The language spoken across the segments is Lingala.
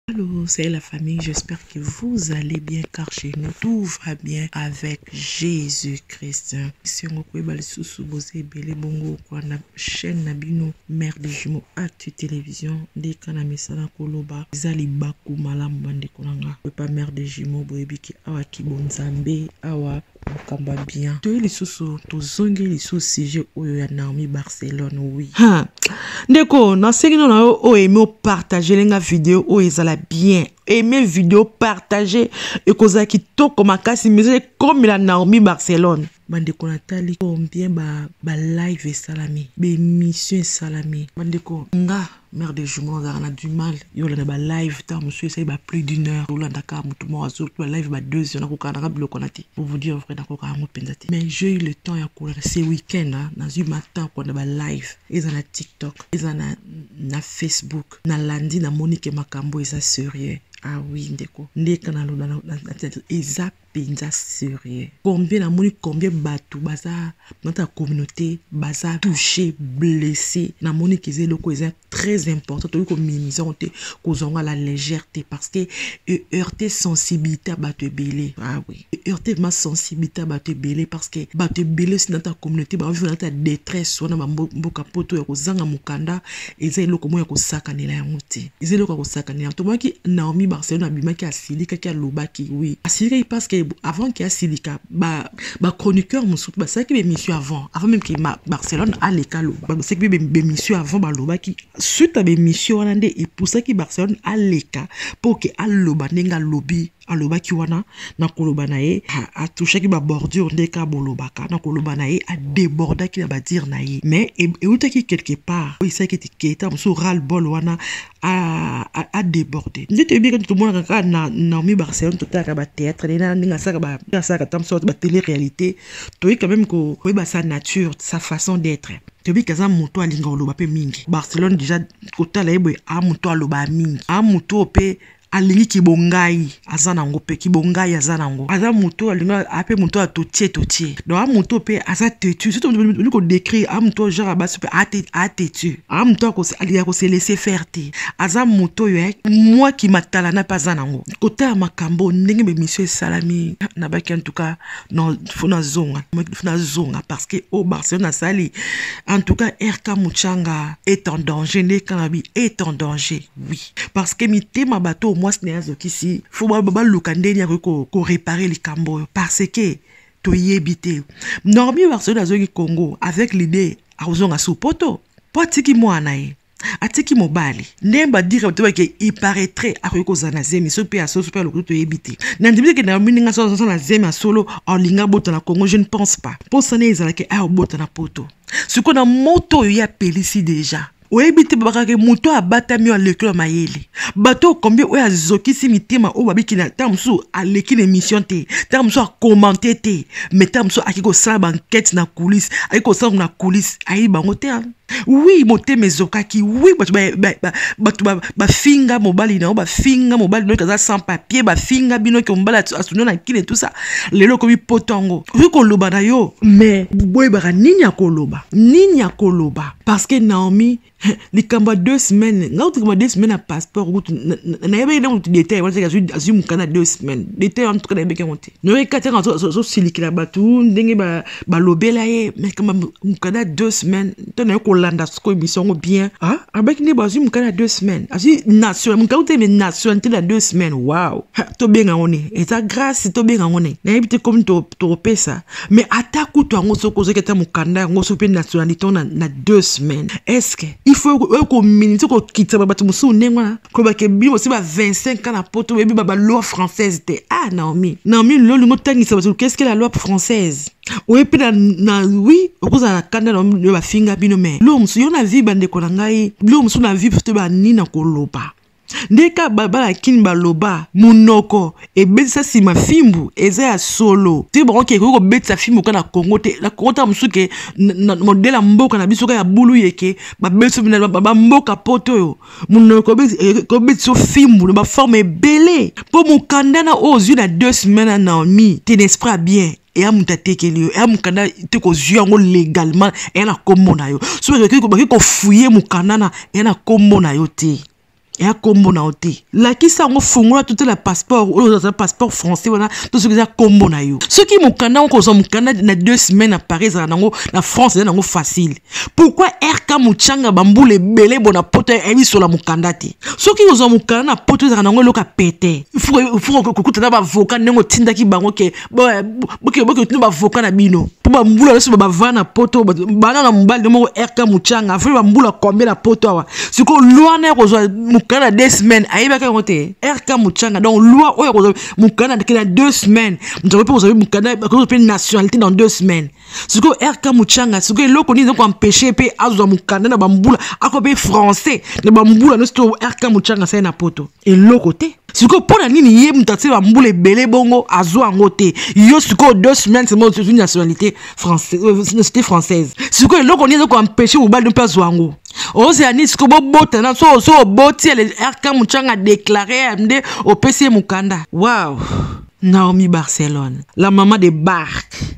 Allô, c'est la famille, j'espère que vous allez bien car chez nous tout va bien avec Jésus-Christ. Si on peut bal sous sous bosé belé bongo quoi na chaîne na bino mère de jumeaux actu télévision des kanami sana koloba zali baku malam bande konanga. Pas mère de jumeaux boyebi ki awa ki bonzambe awa makambo ya bien toye lisusu tozongi lisusu sujet oyo ya naomi barcelone oui ha ndeko nasengi no na yo oyo eme opartagele nga video oyo ezala bien eme video partage ekozala kitoko makasi mais ekomela naomi barcelone bandeko natali combien ba, ba live esalami baemission esalami bandeko nga mère de jumeau azalaka na du mal yo olanda ba live ntango mosusu esali ba plus d'une heure olanda kaka motu moko azo ba live ba deux heures nakokaka nanga biloko na te pour vous dire vrai nakokaka yango mpenza te mais j'ai eu le temps ya kolanda ce week-end nazwi mata ya kolanda ba live eza na tiktok eza na, na facebook nalandi namoni ke makambo eza serieux ah oui ndeko ndeka nalona eza penza serieux combien namoni combien bato baza nata ya communauté baza touché blessé namoni keza eloko eza très important tokoki kominisa yango te kozwa yango la légère te parce que eheurte sensibilité ya bato ebele ah oui eheurte ma sensibilité ya bato ebele parce que bato ebele osi nata ya communauté baovi nata ya détresse wana bamboka poto ya kozanga mokanda eza eloko moko ya kosakanela yango te eza eloko ya kosakanela yango tomonaki naomi barcelone abimaki asilikaki alobaki wi asilikaki parce que avant ke asilika bachroniqueur ba mosusu basalaki bemission avant avant meme ke barcelone aleka aloba basalaki mpe bemission avant balobaki suite ya bemission wana nde epusaki barcelone aleka mpo ke aloba ndenge alobi alobaki wana na koloba na ye atouchaki babordure nde ka bolobaka na koloba na ye adebordaki na badire na ye mais e, eutaki quelque part oyo esalaki ete keta mosusu ral bol wana adeborde nde toyebi kati tomonaka kaka na naomi barcelone totalaka batheatre nde na ndenge asalaka asalaka ta mosusu batele réalité toyei quand même koyeba sa nature sa façon d'être toyebi ke aza moto alinga koloba mpe mingi barcelone déjà kotala ye boye a moto alobaa mingi a moto oyo mpe alingi kibongai aza nango mpe kibongai aza nango aza moto alingi ape moto ya totie totie donc a moto mpe aza tetu soki olingi kodécrire a moto genre ya basi mpe atetu a moto ya kose laisser faire te aza moto oyo eh, mwa kimatalana mpe aza nango kotala makambo ndenge bemission esalami na baki en tout cas non fo nazonga fo nazonga parce que o oh, barcelone asali en tout cas rk muchanga est en danger nde kanabi est en danger oui parce que mitema bato oyo mwasi na ye azokisi fo baluka ndenge akoki korepare likambo oyo parce que toyebi te normi barcelone azongi congo avec l'idée akozonga sous poto mpo atiki mwana ye atiki mobali nde badire bato bake iparetre akoki kozala na zemi so mpe ya solo so mpe ya lokutu toyebi te na ndimi teke na mininga so azosala na zemi ya solo alinga abota na congo je ne pense pas mposa ne ezalaki aya obota na poto sikoyo na moto oyo ye apelisi deja oyebi te babakaka moto oyo abatami oyo aleki oyo mayele bato oyo combien oyo azokisi mitema oyo babiki na ntango mosusu aleki na émission te ntango mosusu akomante te mais ntango mosusu aki kosala bankete na coulisse aki kosala na coulisse ayebi bango te wi motema ezokaki wi bato bato bafinga mobali na yo bafinga mobali noki aza sans papier bafinga bino ke mobali asunio na kine tusa lelo okomi poto yango okoki koloba na yo mais boyebaka nini akoloba nini akoloba parce que Naomi likambo ya deux semaines nga kutu kama deux semaines ya passeport kutu nayebaki ntango kutu detail wana azwi azwi mokanda ya deux semaines detail wana tuka nayebaki yango te noyebaki kati yango azosilikela bato ndenge balobela ye mais kama mokanda ya deux semaines to naye kolanda soko émission yango bien ah abaki nde bazwi mokanda ya deux semaines azwi national mokanda te mais nationalité ya deux semaines wow tobenga yango ne eza grâce tobenga yango ne nayebi te komi tokopesa mais ata kutu yango soki ozoki ata mokanda yango soki mpe nationalité na, na deux semaines estce il faut oyo kominite kokitisa bato mosusu ndenge wana kolobaka ebino bosi ba 25 ans na poto oyebi ba baloi française te ah naomi naomi lelo olingi otangisa bato keske la loi française oye mpe na, na wi okozala na kanda na yo bafinga bino me biloko mosusu yo na vie bandeko na ngai biloko mosusu na vie te banini na koloba nde kaka bana kini baloba monoko ebetisa nsima fimbu eza ya solo te bango ke ekoki kobetisa fimbu kaka na kongo te na kongo ntango mosusu ke modele ya mboka na biso kaka ya bulu yeke babetisa bamboka poto oyo monoko ekobetisa yo fimbu na baforme ebele mpo mokanda na oyo ozwi na deux semaine na naomi tenespra bien eya moto atekeli yo eya mokanda te kozwi yango légalement eya na nkombo na yo soki baki kofuye mokanda na eya na nkombo na yo te eya nkombo na yo te lakisa yango fungola totala passeport oyo oza passeport français wana to soki eza nkombo na yo soki mokanda yango kozwa mokanda na deux semaine na paris ezala nango na france eza nango facile pourquoi rk muchanga bambula ebele bona poto ebisola mokanda te soki ozwa mokanda na poto ezalaka nango eloko ya pete kokuta na bavoka ndenge otindaki bango ke boketuna bavoka na bino mpo bambula nyonso bavana na poto bana na mobali nde moko rk muchanga afai bambula kombe na poto awa sikoyo lwa na ya kozwa mokanda na deux semaines ayebaki yango te rk muchanga donc lwa oyo akozwa mokanda na deux semaines moto akoki mpe kozwa mokanda akozwa mpe nationalité dans deux semaines sikoyo rk muchanga sikoyo eloko nini ezoko empeshe mpe azwa mokanda na bambula ako mpe français na bambula nyonso to rk muchanga asali na poto eloko te sikoyo mpo na nini ye moto atie bambula ebele bongo azwa yango te yo sikoyo deux semaines mo ozwi nationalité euh, nationalité française sikoyo eloko nini ezoko empeshe mobali mpe azwa yango ozela nini sikoyo bobotana so oso oboti ele rk muchanga deklare nde opesi ye mokanda waw naomi barcelone la mama de barke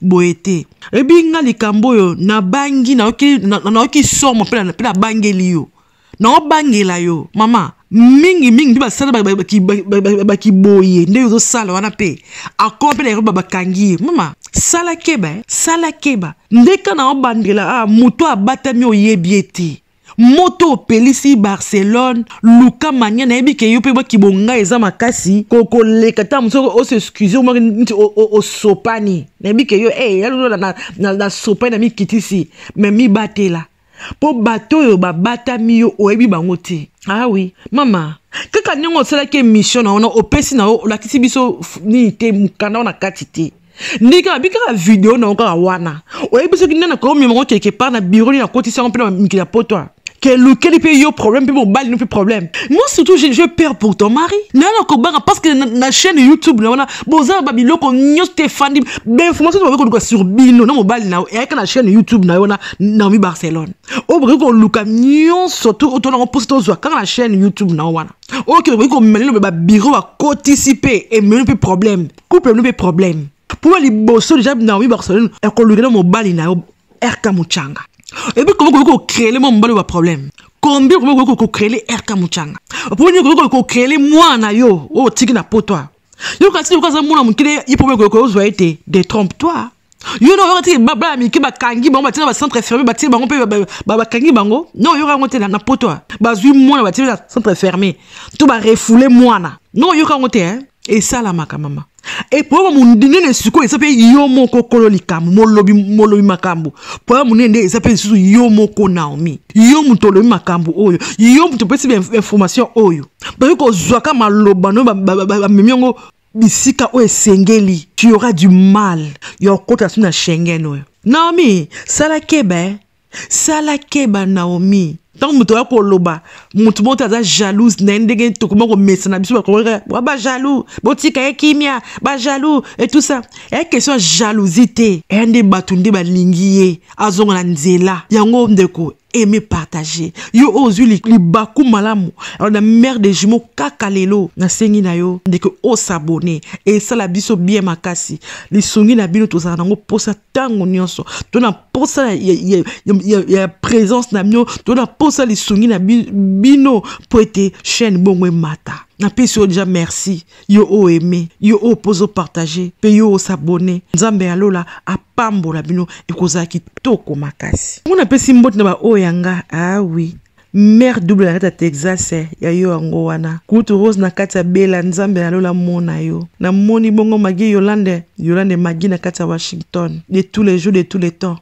boye te ebi nga likambo oyo nabangi nayoki na, na, na, somo mpe nabangeli yo naobangela yo mama mingi mingi mpe basala bakiboye nde ozosala wana mpe akoma mpe na eroba bakangi ye mama sala keba eh? sala keba ndeka naobandela ah, moto abatami oyebi ye te moto opelisi barcelone luka mania nayebi ke yo mpe bakibonga eza makasi kokoleka ntango mosusu osexcuse omaki nti osopani nayebi ke yo e yalola nasopani na mikitisi me mibatela mpo bato oyo babatami yo oyebi bango te awi ah mama kaka ndenge osalaki emission na wana opesi na yo olakisi biso nini te mokanda wana kati te ndenge kaka bi kaka video na yo kaka wana oyebi soki nde nakoki omema ngo quelque part na biro nini akotisi yango mpe na mikili ya poto kelukeli mpe yo problème mpe mobali no mpe problème moi surtout je, je peur pour ton mari nayo nakobanga parce que na, na chaîne youtube na wana boza na babiloko nyonso te efandi bainformation bakoki koluka sur bino na mobali na yo eyaka na chaîne youtube na yo wana naomi barcelone oyo bokoki koluka nyonso tu oto nango mposa tozwa kaka na chaîne youtube na yo wana oyo kende okoki komema lelo babiro bakotisi mpe ememi mpe problème couple no mpe problème mpo liboso deja naomi barcelone ekolukela mobali na yo rk mucanga ebi komi koki kokrele mwa mobali ba problème combien komi koki kokrele rk mucanga mpo nini koki kokrele mwana na yo oyo otiki na potoi yo kasi yoka aza mwana mokili ye problème koki kozwa ye te detrompe toi yo na oyokati baba ya mike bakangi bango batina bacentre infirmier batie bango mpe bakangi bango na oyoka yango te na poto a bazwi mwana batie na centre infirmier to barefoule mwana na oyoka yango te esalamaka mama epoyama monene sikoyo eza mpe yo moko okolo likambo molobi molobi makambo poyama monene nde eza mpe lisusu yo moko naomi yo moto olobi makambo oyo yo moto opesi information oyo bayoki kozwaka maloba no bamemi yango bisika oyo esengeli tu aura du mal ya kokota su na shengen oyo naomi sala keba eh? sala keba naomi ntango moto oya koloba moto moko te aza jalouse na ye ndenge tokoma komesana biso bakoa bajalou botika ye kimia bajalou et tout ça eya question ya jalousie te eya nde bato nde balingi ye azonga na nzela yango ndeko aime partage yo oyo ozwi libaku malamu alors na mare de jumeau kaka lelo nasengi na yo ndeke osabone esala biso bien makasi lisungi na bino tozala nango mposa ntango nyonso to na mposa ya, ya, ya, ya, ya présence na bino to na mposa lisungi na bino mpo ete chaîne bongo emata napesi yo deja merci yo o aime yo oyo mpo ozo partage mpe yo osabone nzambe ya lola apambola bino ekozala kitoko makasi ngo napesi mbote na baoyo ya nga awi ah mare double na kati ya texas eh, ya yo yango wana kutu rose na kati ya bela nzambe na lola mona yo namoni bongo magi yolande yolande magi na kati ya washington de tous les jours de tous les temps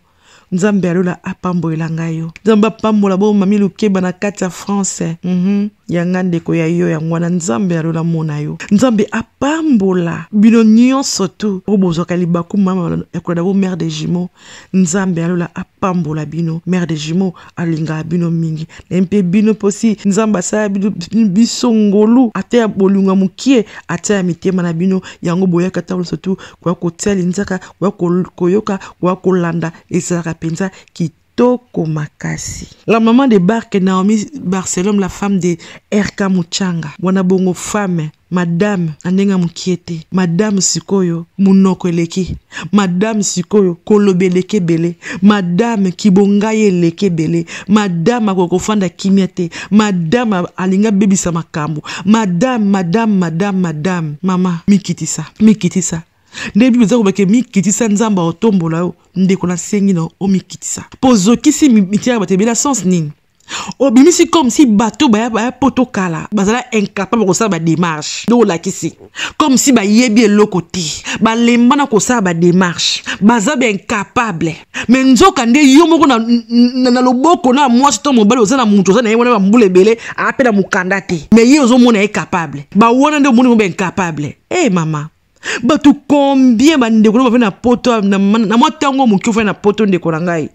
nzambe ya lola apambolela ngai yo nzambe apambola bo mami lukeba na kati ya france mm -hmm. yanga ndeko ya yo yango wana nzambe ya lola mona yo nzambe apambola bino nyonso tu oyo bozwaka libaku mama ya kolanda bo mare de jumeau nzambe ya lola apambola bino mare de jumeau alingaka bino mingi naye mpe bino mposi nzambe asala biso ngolu ata ya bolingo ya mokie ata ya mitema na bino yango boyaka ntango nyonso tu koya kotia linzaka koya koyoka koya kolanda ezalaka mpenza kit kitoko makasi la maman de barke naomi barcelome la femme de rk muchanga mwana bongo femme Madame na ndenge ya mokie te. Madame sikoyo monoko eleki. Madame sikoyo koloba eleki ebele. Madame kibonga ye eleki ebele. Madame akoki kofanda kimia te. Madame alingi abebisa makambo. Madame, madame, madame, madame. Mama, mikitisa, mikitisa. nde bible eza kobake mikitisa nzambe aotombola yo ndeko nasengi na omikitisa mpo ozokisi mitiaka bato ebela sens nini obimisi comme si bato baya baya poto kala bazala incapable kosala badémarche nde olakisi comme si bayebi eloko te balemba na kosala badémarche baza baincapable me nzoka nde yo moko na, na, na loboko na mwasi to mobali oza na moto oza na ye wana bambula ebele ape na mokanda te me ye ozomona ye capable bawana nde omoni ngo baincapable e hey, mama bato combien bandeko na bafai na poto na mwa ntango moke ofai na poto ndeko na ngai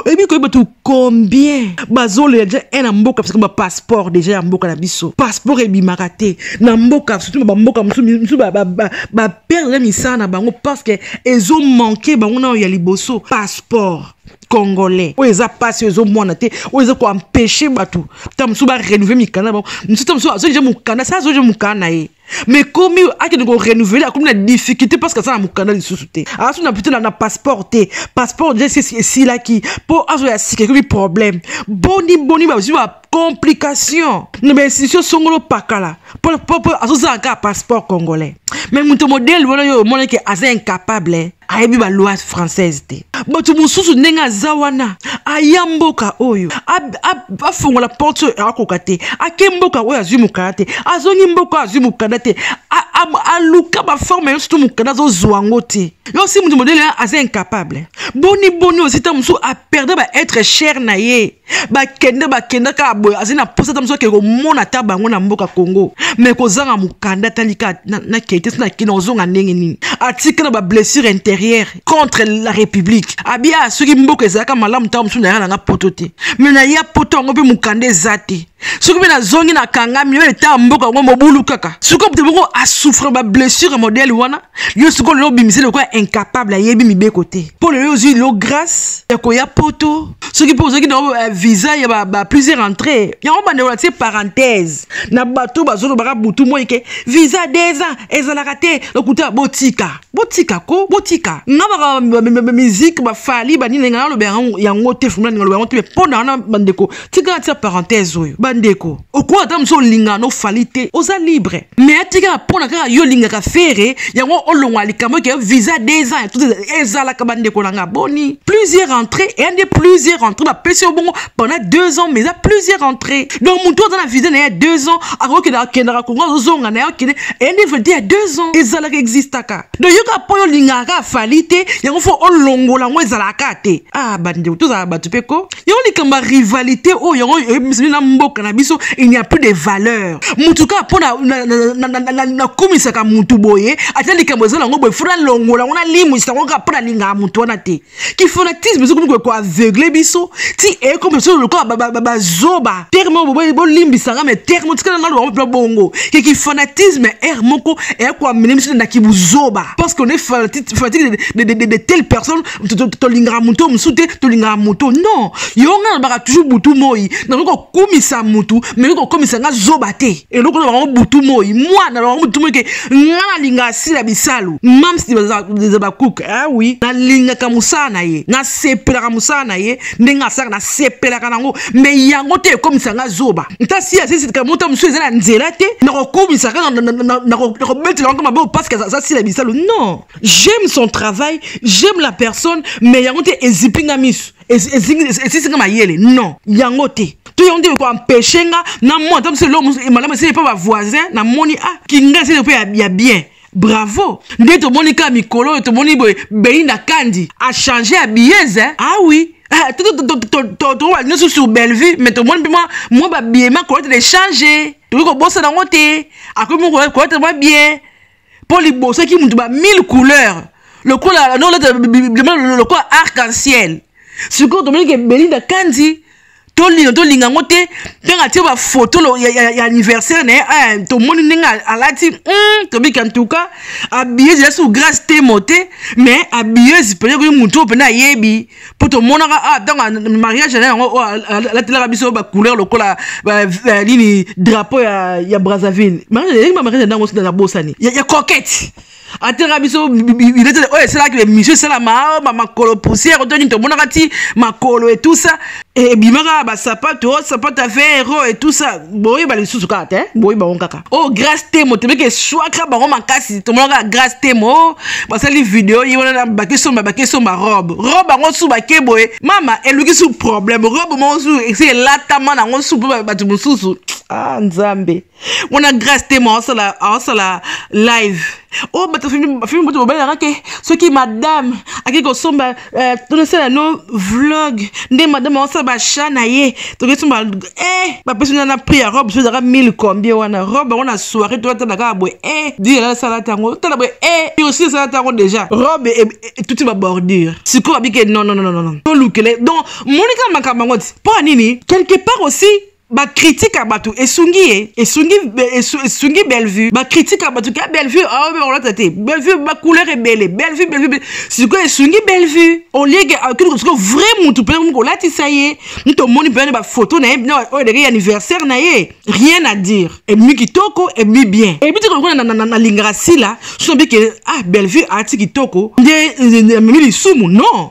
oyebi koyeba tu combien bazolela deja e na mboka biso bapasseport deja ya mboka na biso passeport ebimaka te na mboka surtout bamboka mosusu baperdre misala na bango parce que ezomanke bango nayo ya liboso passeport congolais oyo eza mpasi oyo ezomwana te oyo eza koempeshe bato ta mosusu barenouve mikanda na bango mosusu ta mosusu azoja mokanda sa azoja mokanda na ye mais komi akende ko renouveler akomi na difficulté parce que aza na mokanda lisusu te asu na pito na passeport te passeport déjà esilaki mpo azoya sika ekomi problème boni boni bazwi ba complication na bainstitution songolo pakala mpo azozala kaka passeport congolais mais moto modele wana yo omonaki aza incapable ayebi ba loi française te bato mosusu ndenge aza wana aya mboka oyo afongola porte oyo akoka te ake mboka oyo azwi mokanda te azongi mboka oyo azwi mokanda te aluka baforme nyonso to mokanda azozwa yango te yo osi moto modele aza incapable boni boni osi ntango mosusu aperde baetre cher na ye bakende bakenda kaka boye azali na mposa ata mosu akende komona ata bango na mboka congo mai kozanga mokanda atali kaka nakei te sina kina ozonga ndenge nini atika na bablessure intérieure contre la république abia soki mboka ezalaka malamu ntango mosusu naya nanga poto te mai naya poto yango mpe mokanda eza te soki mpe nazongi na kangami oyo etaa mboka yango mobulu kaka soki moto moko asouffre bablessure modele wana yo sikoyo lelo obimisi lokola incapable ayebi mibeko te mpo lelo ozwi lelo grâce ya koya poto soki mpe ozwaki na euh, visa ya ba, ba plusieurs entrée yango bandeko na tie parenthèse na bato bazolobaka butu moi ke visa deux ans ezalaka te lokuta botika botika ko botika nga baka miziki bafali banini nga naloba yango te fumula ninga loba yango te mpo na wana bandeko tika natia parenthèse oyo bandeko okoki ata mosu olingaka no fali te oza libre mais atikaka mpona kaka yo olingaka fere yango olongola likambo eke visa deux ans tout ezalaka bandeko na nga boni plusieurs entrées eya nde plusieurs entrées bapesi yo bongo pendant deux ans mais eza plusieurs entrées donc motu aza na visa na ye ya deux ans akokenda akendaka kongo azozonga na ye akende eya nde valide ya deux ans ezalaka existaka donc yoka mpo yo olingaka kaka fali te yango fo olongola yango ezalaka te ah bandeko tozala bato mpe ko yango likambo ya rivalite oyo yango emisani na mboka na biso il n'y a plus de valeur motu kaka mpo nakumisaka motu boye ata likambo eza nango boye fona longola yango nalimwisa yango kaka mpo nalingaka motu wana te kifanatisme ezokomi koye koaveugle biso ti ekomi biso lokola bazoba terme oyo bolimbisanga me terme otikala nga lobango mpe bongo ke kifanatisme ere moko eya koamene biso na kibuzoba parce qu'on est fanatique de telle personne tolingaka moto mosusu te tolingaka moto non yo ngai nalobaka toujours butu moi nakoki kokumisa motu mekoki kokomisa ngai zoba te eloko na bango butu moi mwana na bango butu moi ke ngai nalingaka sila bisalu mamsi eza bacook ah oui nalingaka mosala na ye nasepelaka mosala na ye ndenge asalaka nasepelaka nango me yango te ekomisa ngai zoba ntasi asisitika mota mosusu eza na nzela te nakokumisa kaka nakobetela yango maboko paske aza sila bisalu non j'aime son travail j'aime la personne mais yango te ezipi nga miso esisi nga mayele non yango te to yango nde ekoempeshe nga na mona ata mosu elo malamu esili mpe bavoisin namoni a ah, kinga esili mpe ya bien bravo nde tomoni kaka mikolo oyo tomoni boye beinda kandi achange ya biyeze awi ah tokoba nyonso sur bellevue mais tomoni mpe mwa babiema kolete de change tokoki kobosana yango te akomi kolete mwa bien mpo liboso eki moto ba mille couleur lokola noleta lokola arc en ciel sikoyo tomoni ke belinda kanzi tolino tolinga yango te ntango atie bafoto ya, ya, ya anniversaire na ye eh, tomoni ndenge alati mm, tobiki antuka abieuse eza sous grace temo te mais abieuse mpenza koyi motu oyo mpenza ayebi mpo tomonaka ah, ntango mariage na yango oyo oh, alatelaka biso bacouleur lokola nini drapeau ya, ya brazzaville mariage eyaki bamariage na yango sida nabosani ya, ya coquette atelaka biso bilete oyo esalaki emission esalama makolo poussière to nini tomonaka ti makolo etusa ebima eh, kaka basapato oh, sapato ya vero e tout ça boyeba lisusu kaka te boyeba yango kaka o oh, grace temo tobiki eswaka bango makasi tomona kaka grace temo oh, basali video ye wana na bake somba bake somba robe robe yango su bake boye mama eluki su problème robe moko su esi elatama na yango su mpo bato mosusu ah nzambe mwana grace te ma osala aosala live o oh, bato filme bato babalelaka ke soki madame akei kosomba euh, tonosala no vlog nde madame aosala bacha na ye toke somba e eh, bapesi na na prix ya robe sozaka 1000 combien wana robe yango na soirée toyatala kaka boye e eh, dila asala tango tala boye e eh, osi asala tango déjà robe e, e, tuti babordure sikoyo babike non non non non tolukele donc monika makambo yango ti mpo ya nini quelque part aussi ba critique ya bato esungi ye esungi esungi bellevue ba critique ya bato ka bellevue aobe olata te bellevue ba couleur ebele bellevue bellevue sikoyo esungi bellevue olieke akili sikoyo vrai motu mpe momi kolatisa ye moto omoni mpe ba photo na ye na oyo eleki anniversaire na ye rien à dire ebimi kitoko ebimi bien ebi te kolokona nalingaka sila so nabike ah bellevue aati kitoko nde amemi lisumu non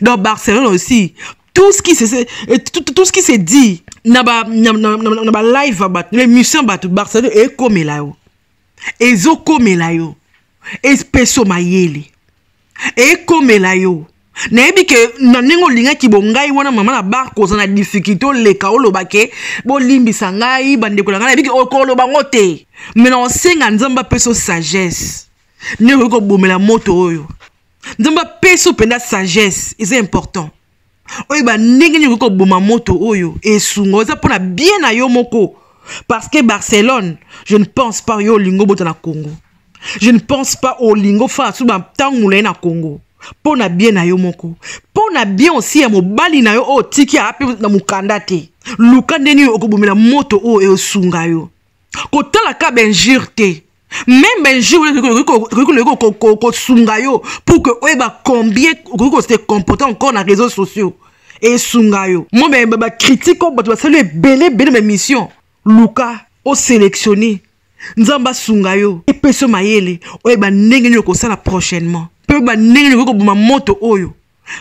donc barcelone aussi tout ce qui se, euh, tout, tout ce qui se dit na ba na, na, na, na ba live ya bato na émission ya bato barcelone ekomela yo ezokomela yo espeso mayele ekomela yo nayebi ke na ndenge olingaki bongai wana mama na bar koza na difikilte oleka oloba ke bolimbisa ngai bandeko na ngai nayebi ke okoloba ngo te me na osenga nzambe apesa sagesse ndenge okoki kobomela moto oyo nzambe apesi yo mpenza sagesse eza important oyeba ndenge nini okoki koboma moto oyo esunga oza mpo na bien na yo moko parce que barcelone je ne pense pas yo olingo bota na congo je ne pense pas olingo faa suba ntango molai na congo mpo na bien na yo moko mpo na bien osi ya mobali na yo oyo otiki aa mpe na mokanda te luka nde nini okobomela moto oyo eosunga yo kotala ka benjure te meme un jour ekoki kosunga yo pour que oyeba combien okoki kose comporte encore na réseau sociaux esunga yo mo bacritique oyo bato basali ebele ebele baémission luka osélectionne nzambe asunga yo epesa yo mayele oyeba ndenge nini okosala prochainement mpe oyeba ndenge nini okoki koboma moto oyo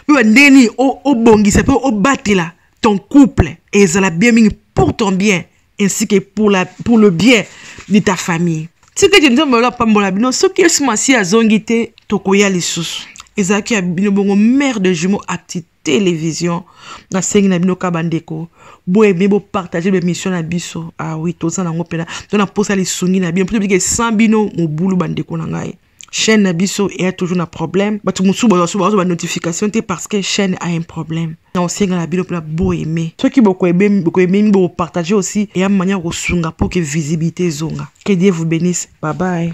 mpe ba ndenge nini obongisa mpe obatela ton couple ezala bien mingi pour ton bien ainsi que pour, la, pour le bien de ta famille tika ete nzambe olo apambola bino soki yesu masiya azongi te tokoya lisusu ezalaki ya bino bongo mare de jumeau acti télévision nasengi na bino kaka bandeko boyebe bopartage bemission na biso awi ah toza nango mpena to na mposa lisungi na bino mpo tobiki esan bino mobulu bandeko na ngai chaîne na biso eya toujours na problème bato mosusu bazwa banotification te parce que chaîne a un problème na osenga na bino mpona boaime soki bokoememi bokopartage aussi eya manière kosunga mpo ke visibilité ezonga que dieu vous bénisse babaye